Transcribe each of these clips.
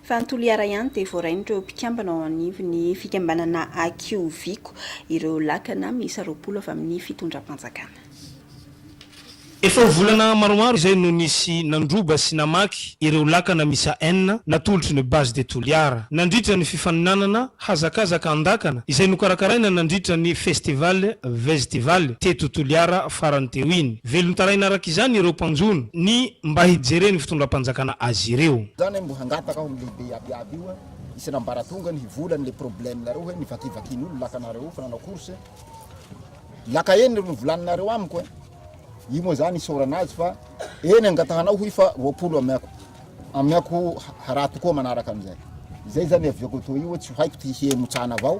Fa ny Toliara ihany dia voarain'ireo mpikambana ao anivon'ny fikambanana Akioviako ireo lakana miisa roapolo avy amin'ny fitondram-panjakana. Efa ho volana maromaro izay no nisy nandroba sy namaky ireo lakana miisa enina natolotry ny Base de Toliara nandritra ny fifaninanana hazakazaka an-dakana izay nokarakaraina nandritra ny Festival Vestival teto Toliara farany teo iny. Velon-taraina araka izany ireo mpanjono ny mba hijeren'ny fitondram-panjakana azy ireo. Zany hoe mbo hangataka ho lehibe iaby iaby io isany ambaratongany hivolany le problème nareo hoe mivakivakin olona laka nareo io fa nanao course laka enina no volany nareo amiko eh io moa zany isaorana azy fa eny angatahanao hoy fa roapolo amiako amiako haraha tokoa manaraka amizay izay zany aviako to io hoe tsy haiko ty hiheno tsana avao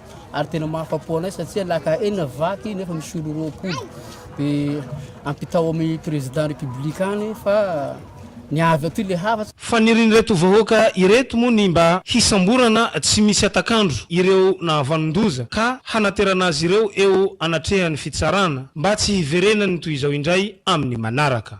ary tena mahafa-po anay satsia laka enina vaky nefa misy olo roapolo de ampitao amy président république any fa ny avy aty le hafa Fanirian'ireto vahoaka ireto moa ny mba hisamborana tsy misy hatak'andro ireo nahavanon-doza ka hanaterana azy ireo eo anatrehan'ny fitsarana mba tsy hiverenan'ny toy izao indray amin'ny manaraka.